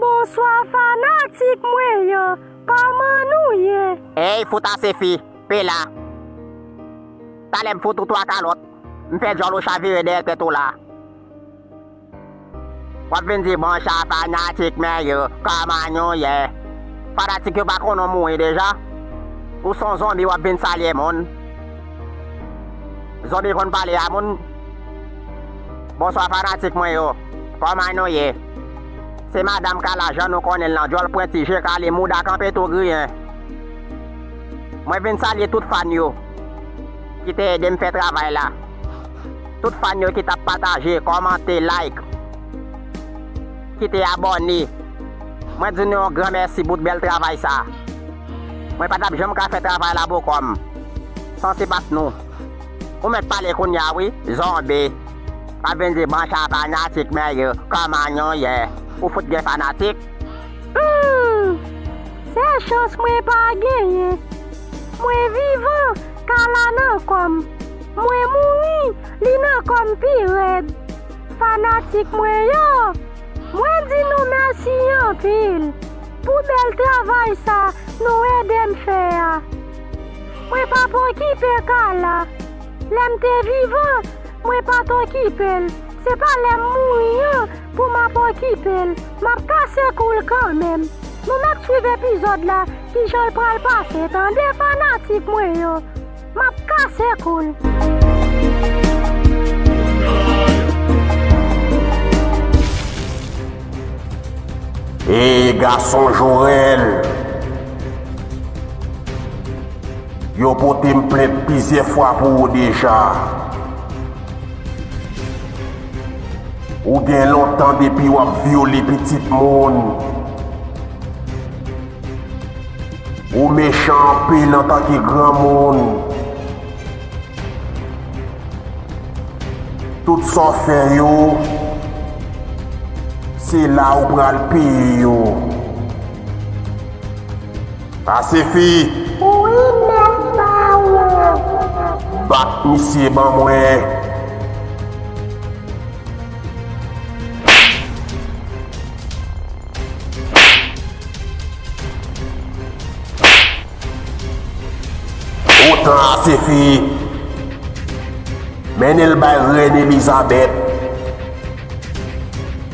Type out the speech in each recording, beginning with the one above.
Bonswa fanatik mwen yo kòman nou ye. Eyy fout ase fi, pe la. Talè m fout ou 3 kalòt, m fè djòl ou chavire dèyè tèt ou la. Wap vin di bonswa fanatik mwen yo kòman nou ye. Fanatik yo pa konnen w mouri deja? Ou son zonbi wap vin salye moun. Zonbi konn pale a moun? Bonswa fanatik mwen yo. Kòman nou ye? Se Madam Kala jan nou konnen l lan djòl pwenti, je kale, mouda kanpe tou griyen. Mwen vin salye tout fan yo ki te ede m fè travay la. Tout fan yo ki t ap pataje, kòmante, like, ki te abòne. Mwen di nou yon gran mèsi bout bèl travay sa. Mwen pa t ap janm ka fè travay la bokò m san sipat nou. Ou mèt pale kounya wi zonbi. Wap vin di bon sa fanatik mwen yo kòman nou ye ou fout gen fanatik. Humm sel chans mwen pa genyen mwen vivan kala nan kòm mwen mouri li nan kòm pi rèd fanatik mwen yo mwen di nou mèsi anpil pou bèl travay sa nou edem fè a. Mwen pa p okipe ka la. Lè m te vivan, mwen pa t okipe l. Se pa lè m mouri an pou m ap okipe l. M ap kase kou l kanmenm. Nou mèt swiv epizòd la kijan l pral pase tande fanatik mwen yo. M ap kase kou l. E gason Jorèl! Yo pote m plent plizyè fwa pou ou deja. Ou gen lontan depi w ap vyole pitit moun. Ou mechan anpil antanke granmoun. Tout sa w fè yo, se la ou pral peye yo. Sa sifi! Wi mèt pa ou! Bat misye ban mwen! Gwo tan a sifi! Mennen l bay rèn Elizabèt.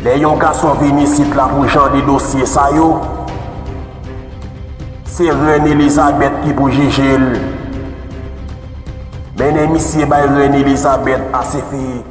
Lè yon gason vin isit la pou jan de dosye sa yo, se rèn Elizabèt ki pou jije l. Mennen misye bay rèn Elizabèt a sifi!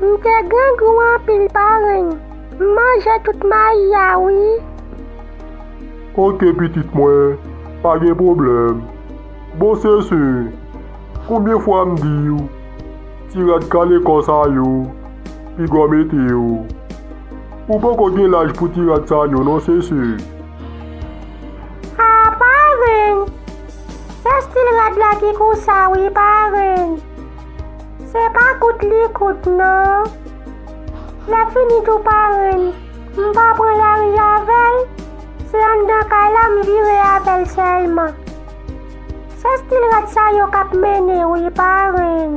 M te grangou anpil parenn. M manje tout mayi a wi. Ok pitit mwen pa gen pwoblèm. Bon sesey konbyen fwa m diw ti rad kale kò sa yo piga w mete yo ou poko gen laj pou ti rad sa yo non sesey. Haa parenn se stil rad la ki konsa wi parenn. Se pa kout li kout non. Lap fini tou parenn. M pa pran lari avèl, se anndan kay la m vire avèl sèlman. Se stil rad sa yo kap mennen w wi parenn.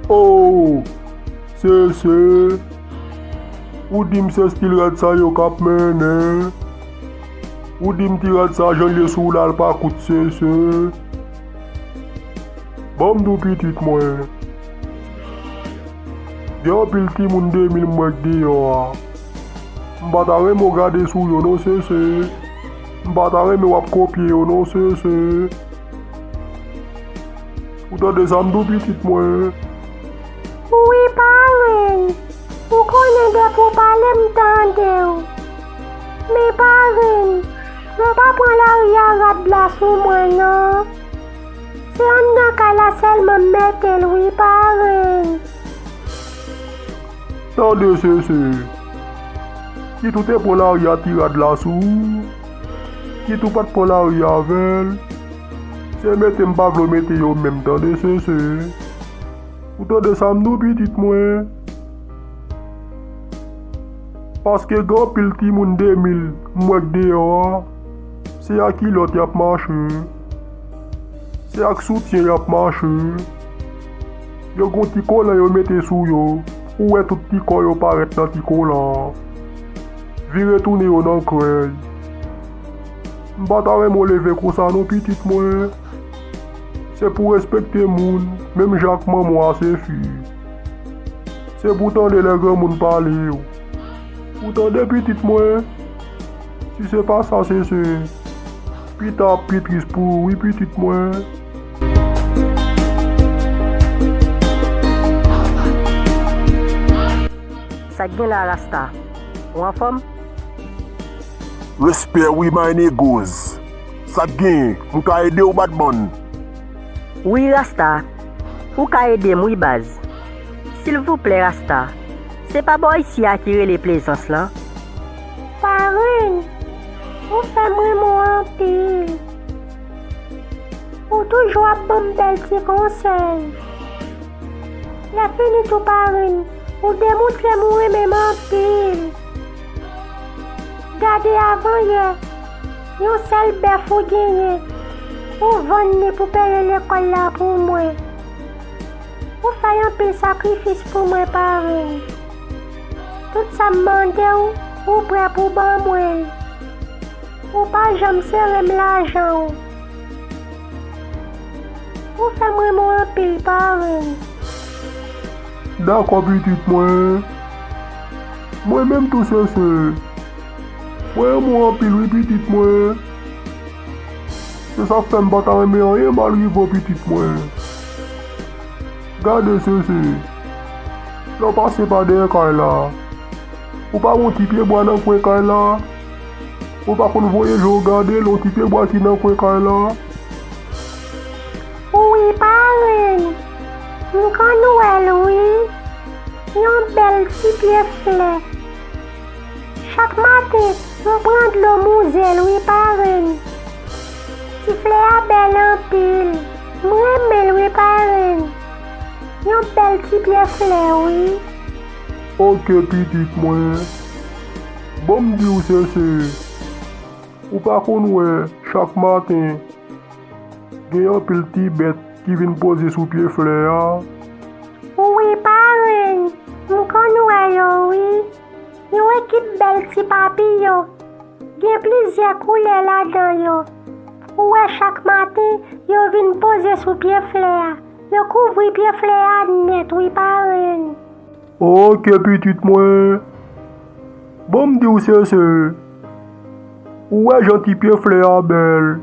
Oh Sese, ou di m se stil rad sa yo kap mennen. Ou di m ti rad sa jan l ye sou w la l pa kout Sese. Banm di w pitit mwen. Gen anpil timoun 2000 m wè k deyò a. M pa ta renmen w gade sou yo non sese. M pa ta renmen wap kopye yo non sese. Ou tande sa m di w pitit mwen. Wi parenn. Ou konnen depi w pale m tande w. Men parenn. Nou pa pran laria rad la sou mwen nan. Se anndan kay la sèlman m metel wi parenn. Tande sese. Titou te pran laria ti rad la sou ou. Titou pat pran laria avèl. Se mete m pa vle w mete yo menm tande sese. Ou tande sa m di w pitit mwen. Paske gen anpil timoun 2000 m wè k deyò a, se a kilòt y ap mache, se ak soutyen y ap mache, yo gen yon ti kolan yo mete sou yo, ou wè tout ti kò yo parèt nan ti kolan an, vire tounen yo nan krèy. M pa ta renmen w leve konsa non pitit mwen, se pou w respekte moun menm jan ak manman w a se fi. Se pou w tande lè granmoun pale yo. Ou tande pitit mwen? Si se pa sa se se, pita ap pi tris pou ou wi pitit mwen. Sak gen la rasta? Ou anfòm? Respè wi my negoz. Sak genyen? Mwen ka ede w batman? Wi rasta. Ou ka edem wi baz. Silvouplè rasta se pa bò isi a ki rele plezans lan? Parenn ou fèm renmen w anpil ou toujou ap banm bèl ti konsèy lè fini tou parenn ou demoutrem ou renmenm anpil gade avan yè Yon sèl bèf ou genyen. Ou vann li pou peye lekòl la pou mwen. Ou fè anpil sakrifis pou mwen parenn. Tout sa m mande w, ou prè pou ban mwen l. Ou pa janm sere m lajan w. Ou fè m renmen w anpil parenn. Dakò pitit mwen. Mwen menm tou sese. Mwen renmen w anpil wi pitit mwen. Se sak fèm pa ta renmen anyen mal rive w pitit mwen. Gade sese. Lè w pase pa dèyè kay la. Ou pa wè yon ti pye bwa nan kwen kay la. Ou pa konn voye je w gade l yon ti pye bwa ki nan kwen kay la. Wi parenn. M konn wè l wi. Yon bèl ti pye flè. Chak maten mwen pran dlo mouzel wi parenn. Ti flè a bèl anpil m renmen l wi parenn. Yon bèl ti pyè flè wi. Ok pitit mwen. Bon m di w sese. Ou pa konn wè chak maten gen anpil ti bèt ki vin poze sou pye flè a. Wi parenn m konn wè yo wi. Yon ekip bèl ti papiyon. Gen plizyè koulè ladan yo. Ou wè chak maten yo vin poze sou pye flè a. Yo kouvri pye flè a nèt wi parenn. Ok pitit mwen. Ban m di w Sese. Ou wè jan ti pye flè a bèl.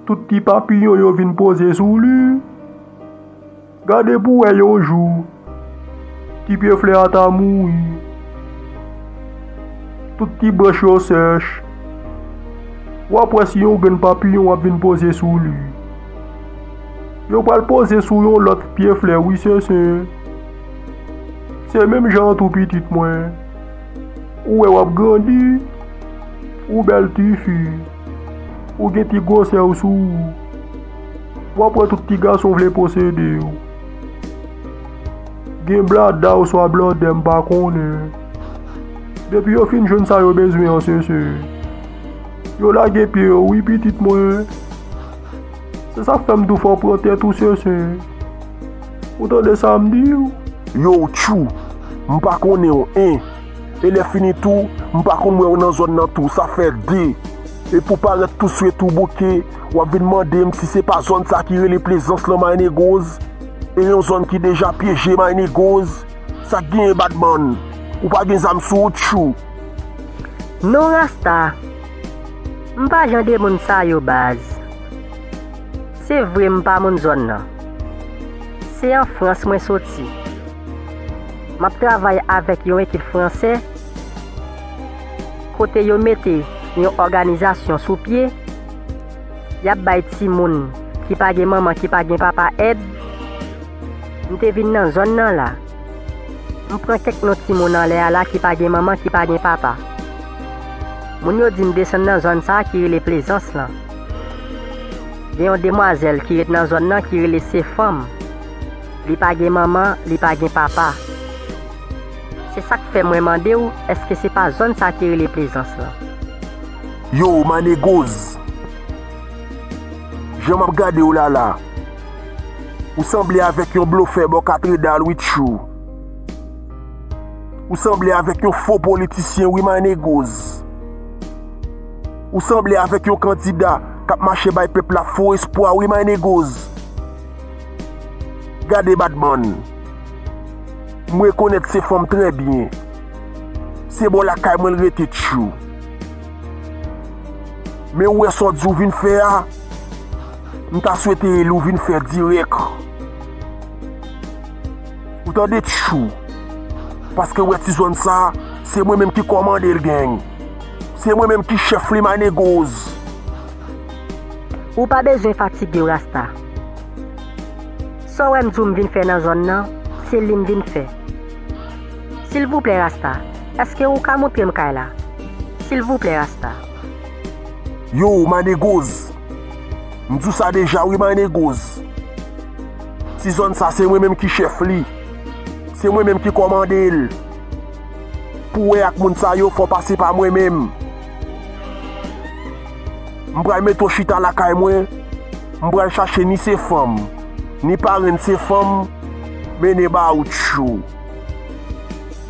Tout ti papiyon yo vin poze sou li. Gade pou wè yon jou ti pye flè a ta mouri, tout ti branch yo sèch. W ap wè si yon grenn papiyon ap vin poze sou li. Yo pral poze sou yon lòt pye flè wi Sese. Se menm jan an tou pitit mwen. Ou wè w ap grandi, ou bèl tifi, ou gen ti gwosè w sou ou. Wap wè tout ti gason vle posede yo. Gen blada oswa blòdè m pa konnen. Depi yo fin jwenn sa yo bezwen an sese. Yo lage pye yo wi pitit mwen. Se sa k fè m di w fò w pran tèt ou sese. Ou tande sa m di w? Yow Tchou! M pa konnen w 1. E lè fini tou, m pa konn wè w nan zòn nan tou. Sa fè 2. Epi w parèt tou swe tou bouke. W ap vin mande m si se pa zòn sa ki rele Plezans lan Maynegoz? E yon zòn ki deja pyeje Maynegoz? Sa k genyen Badman? Ou pa gen zam sou ou tjou? Non Rasta, m pa jan de moun sa yo baz. Se vre m pa moun zòn nan. Se an Frans mwen soti. M ap travay avèk yon ekip Fransè kote yo mete yon òganizasyon sou pye. y ap bay timoun ki pa gen manman, ki pa gen papa èd. M te vin nan zòn nan la. M pran kèk non timoun anlè a la ki pa gen manman, ki pa gen papa. Moun yo di m desann nan zòn sa a ki rele Plezans lan. Gen yon demwazèl ki ret nan zòn nan ki rele Sefanm. Li pa gen manman, li pa gen papa. Se sa k fè mwen mande w èske se pa zòn sa a ki rele Plezans lan. Yo manegoz. Jan map gadew la la. Ou sanble avek yon blofè bò katredal wi tchou. Ou sanble avek yon fo politisyen wi manegoz. Ou sanble avek yon kandida kap mache bay pèp la fo espwa wi manegoz. Gade batman. M rekonet se fanm trè byen. Se bò lakay mwen l rete tjou. Men ou wè sa w di ou vin fè a, m ta swete e li w vin fè dirèk. Ou tande tjou. Paske wè ti zòn sa, se mwen menm ki kòmande l geng. Se mwen menm ki chèf li ma negoz. Ou pa bezwen fatige w rasta. Sa w wè m di w m vin fè nan zòn nan, se li m vin fè. Silvouplè rasta eske ou ka moutrem kay la silvouplè rasta. Yow ma negoz m di w sa deja wi ma negoz ti zòn sa se mwen menm ki chèf li se mwen menm ki kòmande l pou wè ak moun sa yo fò w pase pa mwen menm m pral mete w chita lakay mwen m pral chache ni se fanm ni parenn se fanm mennen ba w tchou.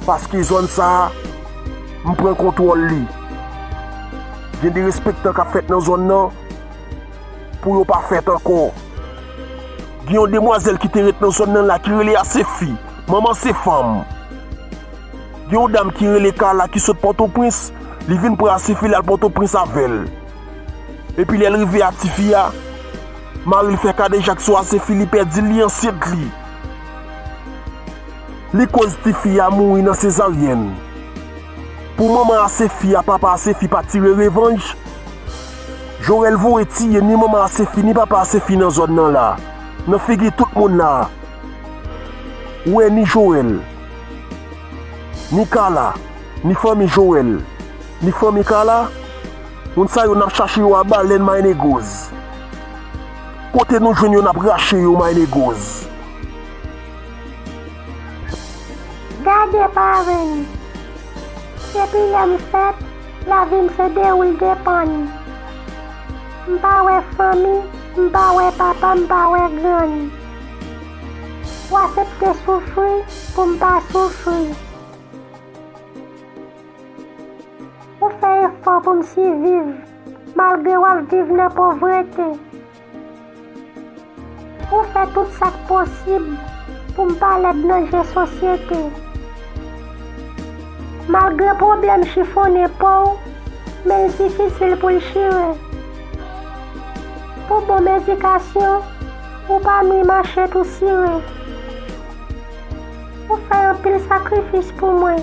Paske zòn sa a, m pran kontwòl li. Gen derespektan k ap fèt nan zòn nan pou yo pa fèt ankò. Gen yon demwazèl ki te ret nan zòn nan la ki rele Asefi, manman se fanm. Gen yon dam ki rele Kala ki sot Pòtoprens, li vin pran Asefi l al Pòtoprens avè l. Epi lè l rive a tifi a, mari l fè kadejak sou Asefi li pèdi l, li ansent li. Li koz ti fi a mouri nan sezaryèn. Pou manman Asefi a papa Asefi pa tire revanj. Jorèl voye tiye ni manman Asefi ni papa Asefi nan zòn nan la. Nan figi tout moun la. Ou wè ni Jorèl. Ni Kala. Ni fanmi Jorèl. Ni fanmi Kala. Moun sa yo nap chache yo a balèn mayinegoz. Kote nou jwenn yo nap rache yo my negoz. Gade parenn. Depi lèm fèt lavim se dewoul depann. M pa wè fanmi m pa wè papa m pa wè grann. Ou asepte soufri poum pa soufri. Ou fè efò poum siviv. Malgre w ap viv nan povrete. Ou fè tout sa k posib pou m pa lèd nan je sosyete. Malgre pwoblèm chifonnen po w men l difisil pou l chire. Pou bon m edikasyon ou pa nwi mache tou sire. Ou fè anpil sakrifis pou mwen.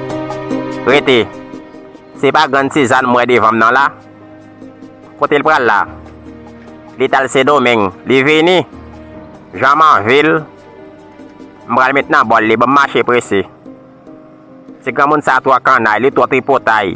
Rete! Se pa grann Sizann m wè devan m nan la? Kote l pral la? Li t al Sendomeng. Li vini? Jan m anvi l! M pral met nan bòl li. Bon m mache prese. Ti granmoun sa a twò kannay. Li twò tripotay.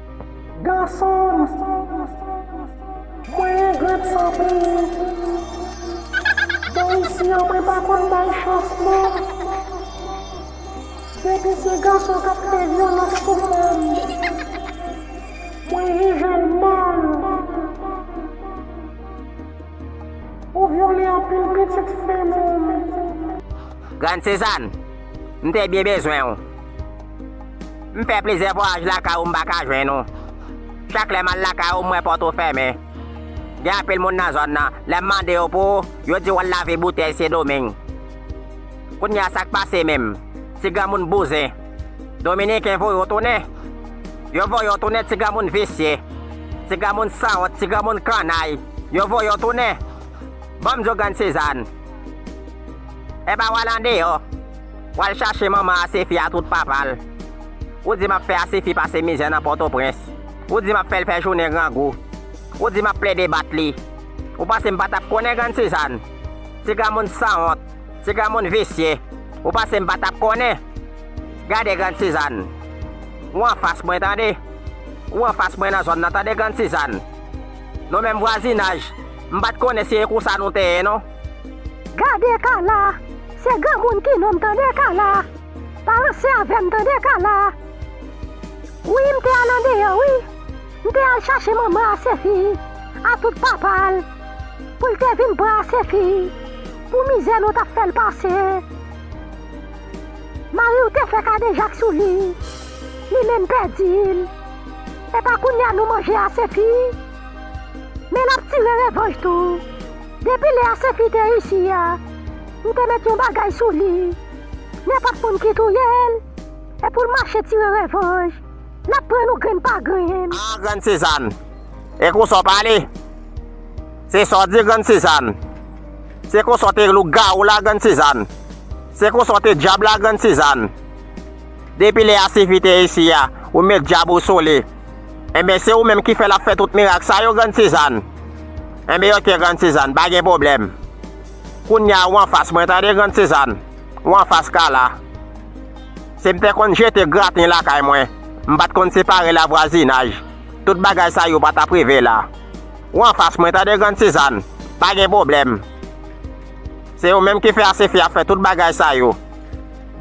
Gason m Mwen engrèt san peyi Bò isi an mwen pa konn bay chans non Depi se gason k ap fè vyolans sou fanm Mwen jije l mal Ou vyole anpil pitit fanm ou Grande Cézanne! M te byen bezwen w. M fè plizyè vwayaj lakay ou m pa ka jwenn ou. Chak lè m al lakay ou m wè pòt ou fèmen. Gen anpil moun nan zòn nan, lè m mande yo pou ou, yo di w al lave boutèy Sendomeng. Kounye a sa k pase menm? Ti granmoun bouzen. Dominiken voye w tounen. Yo voye w tounen ti granmoun visye. Ti granmoun sanwont, ti granmoun kannay. Yo voye w tounen. Ban m di w grann Sizàn. Epa wal andeyò, wal chache manman Asefi a tout papa l. Ou di map fè Asefi pase mizè nan Pòtoprens. Ou di map fèl fè jounen grangou. Ou di map plede bat li. Ou panse m patap konnen grann Sizàn? Ti granmoun sanwont, ti granmoun visye. Ou panse m patap konnen? Gade grann Sizàn. Ou anfas mwen tande. Ou anfas mwen nan zòn nan tande grann Sizàn. Nou menm vwazinaj, m pat konnen si e konsa nou te ye non. Gade Carla, se granmoun ki nonm tande Carla, pa ranse avèm tande Carla, wi m te al andeyò wi, m te al chache manman Asefi a tout papal pou l te vin pran Asefi pou mizè nou tap fèl pase, mariw te fè kadejak sou li, li menm pèdil, epa kounya nou manje Asefi, men lap tire revanj tou. Depi lè a sepi te isi a m te met yon bagay sou li nenpòt moun ki touye l e pou l mache tire revanj l ap pran nou grenn pa grenn. Ah grann Sizann e konsa w pale se sa w di grann Sizann se konsa w te lougawou la grann Sizann se konsa w te dyab la grann Sizann. Depi lè a sifi te isi a, ou met djab ou sou li. Enben se ou menm ki fè l ap fè tout mirak sa yo Grann Sizann? Enben ok Grann Sizann, pa gen pwoblèm. Kounye a ou anfas mwen tande Grann Sizann, ou anfas Kala. Si m te konn jete graten lakay mwen, m pa t konn separe lavwazinaj, tout bagay sa yo pa t ap rive la. Ou anfas mwen tande Grann Sizann, pa gen pwoblèm. Se ou menm ki fè a sifi ap fè tout bagay sa yo.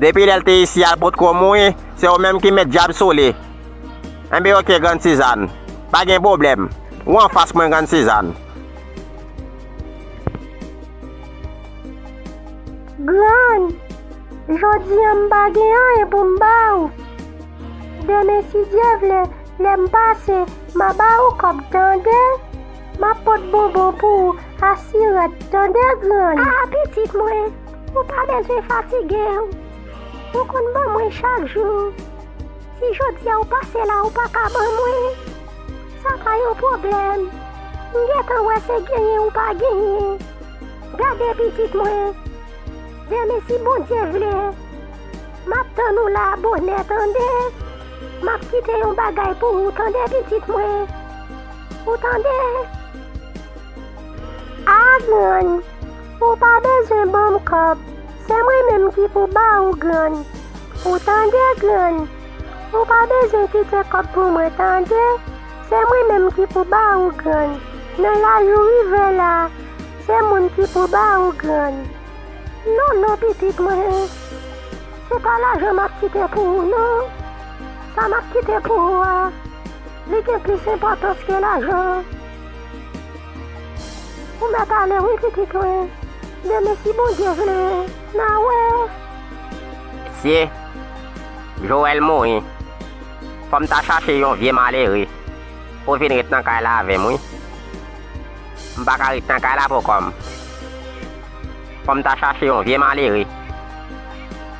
Depi lèl te isi al potko mouin se ou menm ki met djab sou li enben ok grann Suzanne pa gen problèm ou anfas mwen grann Suzanne. Grann, jodi an m pa gen anyen pou m ba ou. Demen si Dye vle lè m pase m a ba ou kòb tande. M ap pot bonbon pou ou asirann tande grann. Ah pitit mwen. Ou pa bezwen fatige w. Ou konn ban mwen chak jou. Si jodi a ou pase la ou pa ka ban mwen, sa pa yon pwoblèm. M gentan wè se genyen ou pa genyen. Gade pitit mwen, demen si Bondye vle, m ap tann ou la bonè tande. M ap kite yon bagay pou ou tande pitit mwen. Ou tande? Aadn. Ou pa bezwen banm kòb se mwen menm ki pou ba ou grann ou tande grann ou pa bezwen kite kòb pou mwen tande se mwen menm ki pou ba ou grann nan laj ou rive la se moun ki pou ba ou grann. Non non pitit mwen se pa lajan map kite pou ou non sa map kite pou ou a li gen plis enpòtans ke lajan. Ou met ale wi kikit mwen. Demen si Bondye vle na wè. Mesye Joel mouri fòm ta chache yon vye malere pou vin ret nan kay la avèm wi m paka ret nan kay la pou kòm fòm ta chache yon vye malere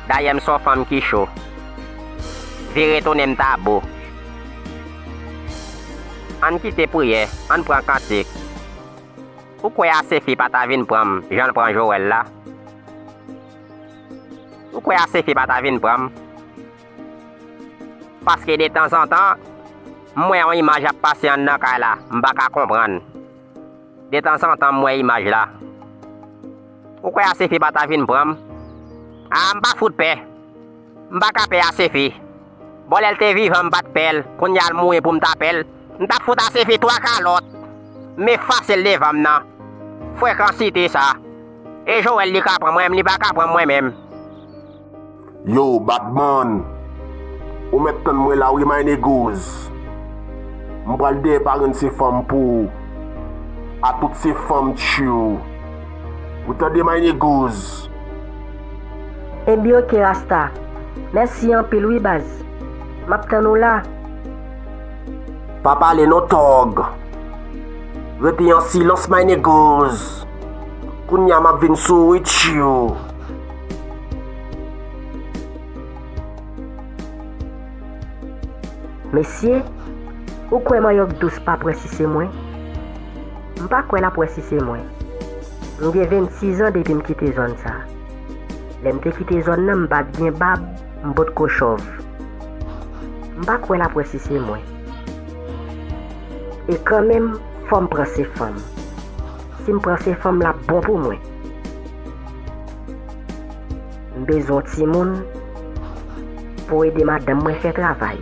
dayè m son fanm ki cho vire tounen m ta bo. Ann kite priyè, ann pran kantik. Ou kwè Asefi pa ta vin pran m jan l pran Jowèl la? Ou kwè Asefi pa ta vin pran m? Paske detanzantan, m wè yon imaj ap pase anndan kay la, m pa ka konprann. Detanzantan m wè imaj la. Ou kwè Asefi pa ta vin pran m? A, m pa fout pè! M pa ka pè Asefi! Bon lèl te vivan m pat pèl kounyal mouri poum ta pèl m tap fout asefi 3 kalòt m efasel devan m nan frekansite sa e Joel li ka pran mwen m li paka pranm mwen menm. Yow Badman ou mèt tann mwen la wi my negoz m pral dèyè parenn se fanm pou ou a tout se fanm tchwiou ou tande my negoz. Ebyn ok rasta Mèsi anpil wi baz Map tann ou la. Pa pale non tòg. Repi an silans my negoz Kounya map vin sou ou wi tchiuu. Mesye Ou kwè manyòk dous pap wè si se mwen? M pa kwè lap wè si se mwen. M gen 26 an depi m kite zòn sa. Lè m te kite zòn nan m pa t gen bab, m potko chòv. M pa kwè l ap wè si se mwen. E kanmenm fò m pran se fanm. Si m pran se fanm l ap bon pou mwen. M bezwen yon timoun pou ede madanm mwen fè travay.